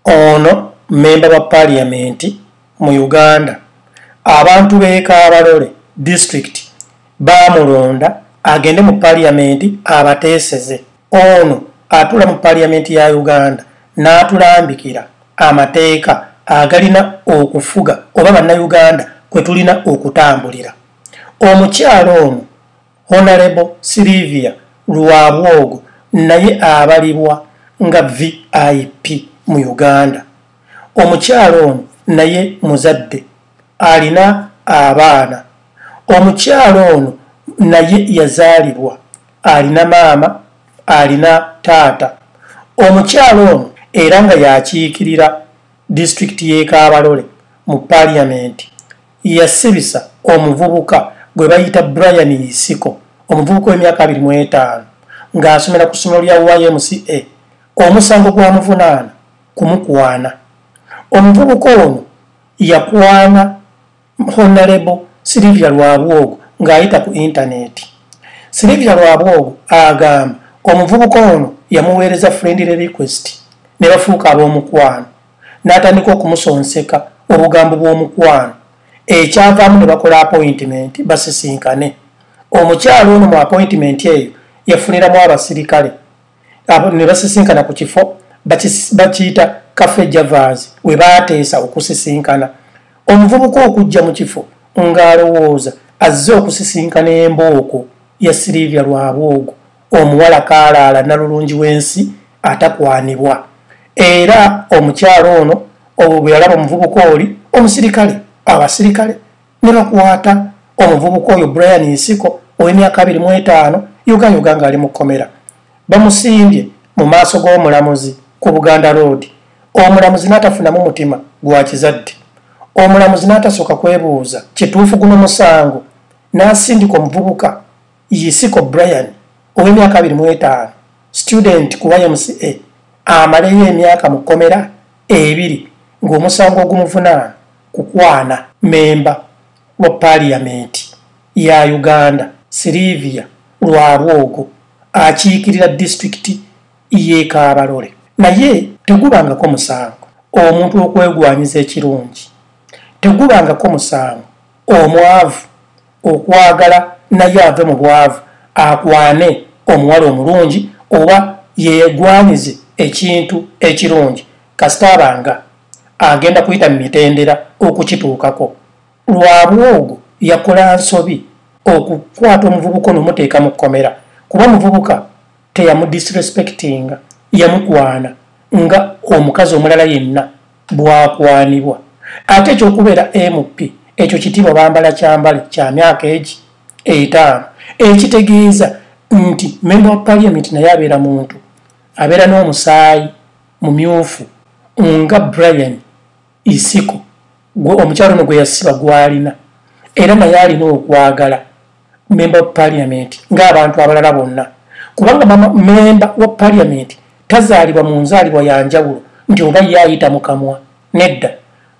Ono memba wa parliament mu Uganda abantu bekabalole district bamulonda agende mu parliament abateseze ono atula mu parliament ya Uganda n'atulambikira amateeka agalina okufuga oba bannayuganda kwe tulina okutambulira omukyalo ono Honorable Sylvia Lwabwogo naye abalibwa nga VIP mu Uganda. Omukyala ono naye muzadde alina abaana. Omukyala ono naye yazaalibwa alina maama alina taata. Omukyala ono era nga yakiikirira disitulikiti y'e Kabalole mu paaliyamenti yasibisa omuvubuka gwe bayita brian isiko omuvubuka w'emyaka abiri mu etaano ng'asomera ku ssomero lya ymca omusango gwamuvunaana kumukwana omuvubuka ono yakwana honalebo silivia lwabwogo ng'ayita ku intaneti silivia lwabwogo agamba omuvubuka ono yamuweereza friendly request ne bafuuka ab'omukwano n'atandika okumusonseka obugambo bw'omukwano ekyavaamu ne bakola apointimenti basisinkane omukyalo ono mu apointimenti eyo yafuniramu abasirikale ne basisinkana ku kifo bakiyita kafe javas we baateesa okusisinkana omuvubuka okujja mu kifo ng'alowooza azze okusisinkana embooko ya sirivia lwabwogo omuwala kaalaala nalulungi w'ensi atakwanibwa era omukyalo ono obwo bwe yalaba omuvubuka oli omusirikale abasirikale ne bakwata omuvubuka oyo brian nsiko ow'emyaka abiri mu etaano yogayoga ng'ali mu kkomera bamusimbye mu maaso g'omulamuzi ku buganda road omulamuzi n'atafunamu mutima gwa kizadde omulamuzi n'atasooka kwebuuza kituufu guno musango n'asindika omuvubuka yisiko brian ow'emyaka abiri mu etaano student ku ymca amaleyo emyaka mu kkomera ebiri ng'omusango ogumuvunaana kukwana memba wa paaliyamenti ya uganda sirivia lwalwogo akiikirira disitulikiti y'ekaabalole naye tegubangako musango omuntu okwegwanyiza ekirungi tegubangako musango omwavu okwagala naye ave mu bwavu akwane omuwala omulungi oba yegwanyize ekintu ekirungi kasita abanga agenda kuyita mu mitendera okukituukako lwabwe ogwo yakola nsobi okukwata omuvubuka onomuteeka mu kkomera kuba omuvubuka teyamudisrespectinga yamukwana nga omukazi omulala yenna bwakwanibwa ate ekyokubeera mp ekyo kitiibwa bambala kyambale kya myaka egi etaano ekitegeeza nti memba wa parliament naye abeera muntu abeera n'omusaayi mumyufu nga brian isiko omukyalo ono gwe yasiba gwalina era naye alina okwagala member of parliament ng'abantu abalala bonna kubanga mama member wa parliament tazaalibwa mu nzaalibwa ya njawulo nti oba ye ayita mu kamwa nedda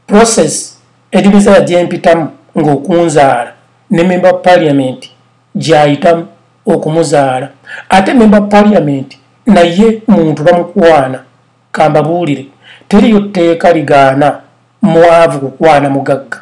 process ejumiza yagyempitamu ng'okunzaala ne member of parliament gyayitamu okumuzaala ate member of parliament naye muntu bamukwana kambabuulire teriyo tteeka ligaana mwavu kukwana mugagga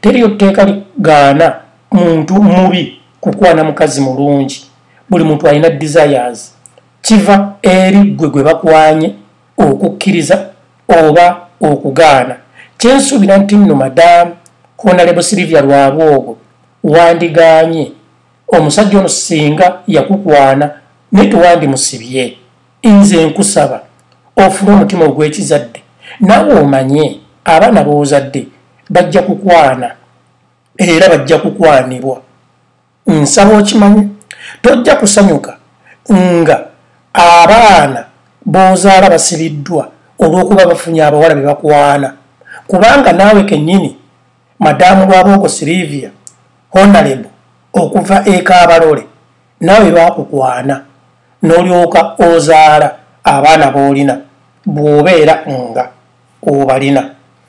teriyo tteeka ligaana muntu mubi kukwana mukazi mulungi buli muntu alina desires kiva eri ggwe gwe bakwanye okukkiriza oba okugaana kyensuubira nti nno madamu honalebo silivia lwabwe ogwo wandiganye omusajja ono singa yakukwana naye tewandimusibye nze nkusaba ofune omutima ogwekizadde nawe omanye abaana bozadde bajja kukwana era bajja kukwanibwa nsaba okimanye tojja kusanyuka nga abaana bozaala basibiddwa olwokuba bafunye abawala bebakwana kubanga naawe kenyini madaamu lwabooko silivia honalebo okuva ekaabalole naawe bakukwana n'olyoka ozaala abaana b'olina bw'obeera nga obalina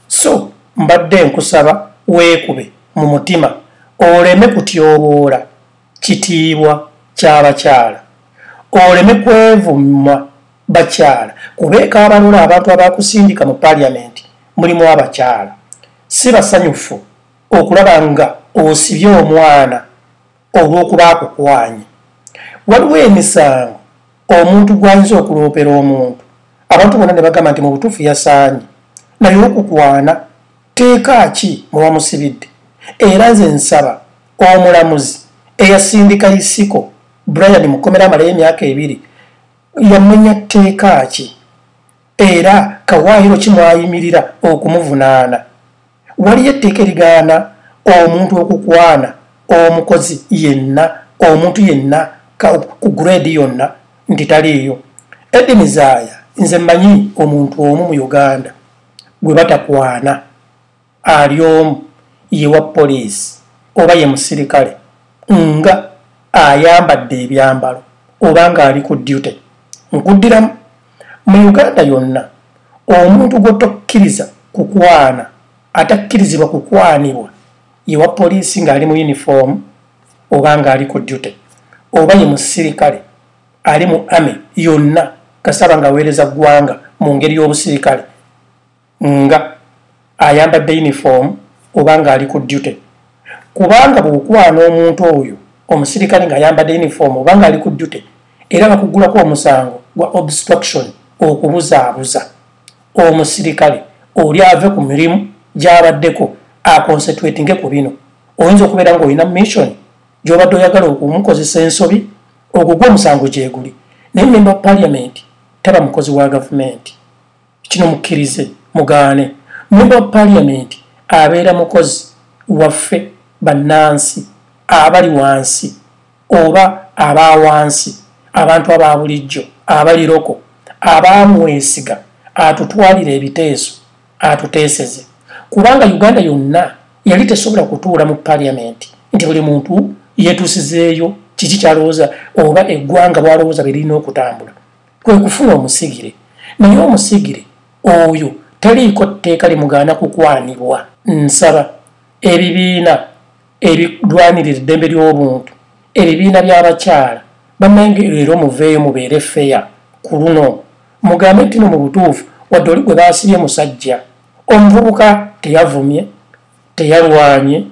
so mbadde nkusaba weekube mu mutima oleme kutyoboola kitiibwa ky'abakyala oleme kwevumma bakyala kubeeka abalola abantu abakusindika mu paliamenti mulimu abakyala si basanyufu okulaba nga osibye omwana olw'okuba akukwanye waliwo emisango omuntu gw'ayinza okuloopera omuntu abantu bona ne bagamba nti mu butuufu yasaanye naye okukwana teeka ki muwamusibidde era nze nsaba omulamuzi eyasindika isiko brian mukomera amalayo emyaka ebiri yamenya tteeka ki era kawaayiro kimwayimirira okumuvunaana waliyo etteeka erigaana omuntu okukwana omukozi yenna omuntu yenna ku grade yonna nti taliiyo edini zaaya nze mmanyi omuntu omu mu uganda gwe batakwana ali omu yewa poliisi oba ye musirikale nga ayambadde ebyambalo oba ng'ali ku duty nkuddiramu mu uganda yonna omuntu gwotokkiriza kukwana atakkirizibwa kukwanibwa yewa poliisi ng'ali mu yunifoomu oba ng'ali ku dute oba ye musirikale ali mu ame yonna kasaba ng'aweereza ggwanga mu ngeri y'obusirikale nga ayambadde uniform oba nga ali ku duty kubanga bwokwana omuntu oyo omusirikale nga ayambadde uniform oba nga ali ku duty era bakugulako omusango gwa obstruction okubuzaabuza omusirikale oli ave ku mirimu gyabaddeko aconcentratinge ku bino oyinza okubeera nga olina mission gyobadde oyagala okumukozesa ensobi ogugwa omusango gyeguli naye member of parliament taba mukozi wa gavumenti kino mukkirize mugaane mumba paliamenti abeera mukozi waffe bannansi abali wansi oba aba wansi abantu aba bulijjo abali loko abaamwesiga atutwalira ebiteeso atuteeseze kubanga uganda yonna yali tesobola kutuula mu paliamenti nti buli muntu yetuusizeeyo kiki kyalowooza oba eggwanga bwalowooza bye lirina okutambula kwe kufuna omusigire naye omusigire oyo taliiko tteeka limugaana kukwanibwa nsaba ebibiina ebirwanirira eddembe ly'obuntu ebibiina by'abakyala bannange leero muveeyo mubeere feya ku luno mugambe ntino mu butuufu wadde oli gwe baasibye musajja omuvubuka teyavumye teyalwanye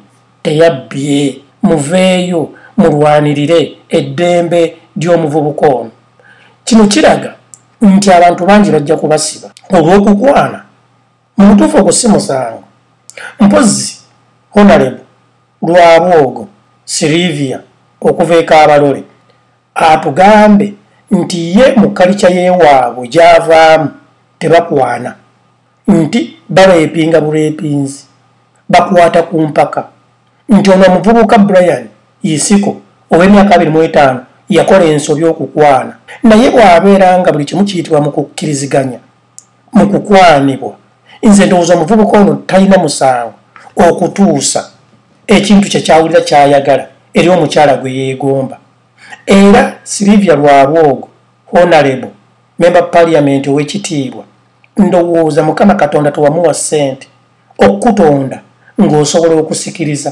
teyabbye muveeyo mulwanirire eddembe ly'omuvubuka ono kino kiraga nti abantu bangi bajja kubasiba olw'okukwana mu butuufu ogwo si musango mpozzi honalebo lwabwogo sirivia okuva ekaabalole atugambe nti ye mu kalica y'ewaabwe gy'avaamu tebakwana nti bareepinga bureepinzi bakwata ku mpaka nti ono omuvubuka brian isiko ow'emyaka abiri mu etaano yakola ensobi okukwana naye bw'abeera nga buli kimu kiyitibwa mu kukkiriziganya mu kukwanibwa nze ndowooza omuvubuka ono talina musango okutuusa ekintu kye kyawulira kyayagala eri omukyala gwe yeegomba era silivia lwabwogo honalebo memba paliamenti ow'ekitiibwa ndowooza mukama katonda tewamuwa ssente okukutonda ng'osobola okusikiriza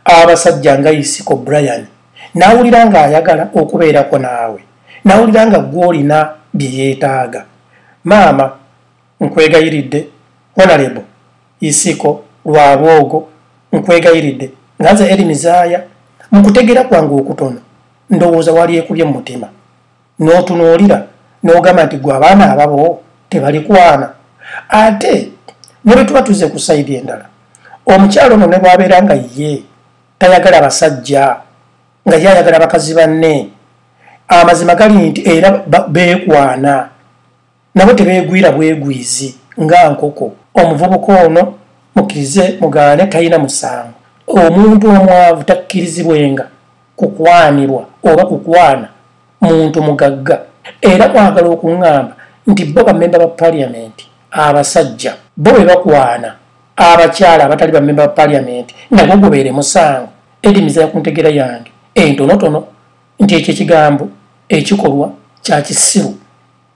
abasajja nga isiko brian n'awulira ng'ayagala okubeerako naawe n'awulira nga gw'olina bye yeetaaga maama nkwegayiridde honalebo isiko lwabwogo nkwegayiridde nga nze eri mizaaya mu kutegeera kwange okutono ndowooza wali ekubye mu mutima n'otunuulira n'ogamba nti gwe abaana ababo tebalikwana ate ne bwe tuba tuze ku sayidi endala omukyalo ono ne bwabeera nga ye tayagala basajja nga ye ayagala bakazi banne amazima gali nti era beekwana nabo tebeegwira bwegwizi nga nkoko omuvubuka ono mukkirize mugaane talina musango omuntu omwavu takkirizibwenga kukwanirwa oba kukwana muntu mugagga era mwagala okuŋŋamba nti bo bamemba ba paliyamenti abasajja bo be bakwana abakyala abatali bamemba ba paliyamenti nagwo gubeere musango edimiza ya ku ntegera yange entonotono nti ekyo ekigambo ekikolwa kya kisiru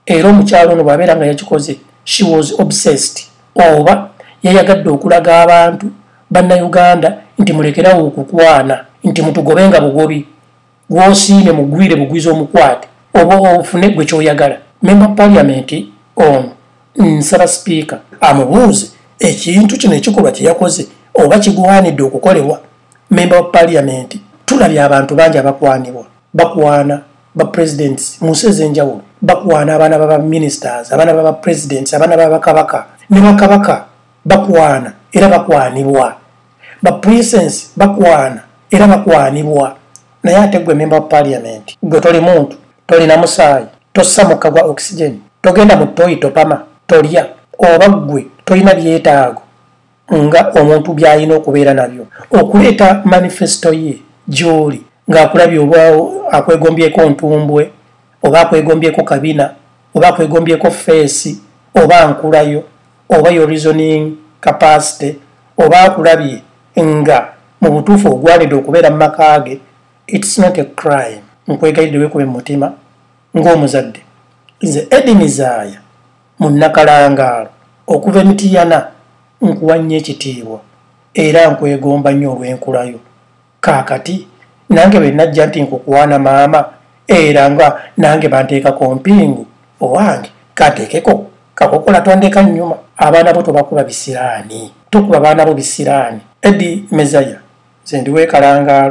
era omukyalo ono bw'abeera nga yakikoze she was obsessed oba yayagadde okulaga abantu bannayuganda nti mulekerawo okukwana nti mutugobe nga bugobi gwosiime mugwire bugwiza omukwate oba ofune gwe kyoyagala memba paliamenti ono nsaba sipiika amubuuze ekintu kino ekikolwa kyeyakoze oba kigwanidde okukolebwa memba wa paliamenti tulabye abantu bangi abakwanibwa bakwana bapresidents mu nsi ez'enjawulo bakwana abaana babaministers abaana babapresidents abaana babakabaka ne bakabaka bakwana era bakwanibwa baprincensi bakwana era bakwanibwa naye ate gwe memba wa parliament gwe toli muntu tolina musaayi tossa mukka gwa oxygen togenda mu toyi topama tolya oba ggwe tolina byetaago nga omuntu byalina okubeera nabyo okuleeta manifesto ye gyoli ng'akulabye oba akwegombyeko ntumbwe oba akwegombyeko kabina oba akwegombyeko feesi oba nkulayo oba yo reasoning capacity oba akulabye nga mu butuufu ogwanidde okubeera mu maka ge its not a crime nkwegalidde wekube mu mutima ng'omuzadde nze edimizaaya mu nnakalangaalo okuva emitiyana nkuwa nnyo ekitiibwa era nkwegomba nnyo olw'enkulayo kaakati nange bwe najja nti nkukwana maama era nga nange banteekako mpingu owange kateekeko kakokola tondeka nnyuma abaana bo tobakuba bisiraani tokuba baana bo bisiraani edi mezaya nze ndiweekalangaalo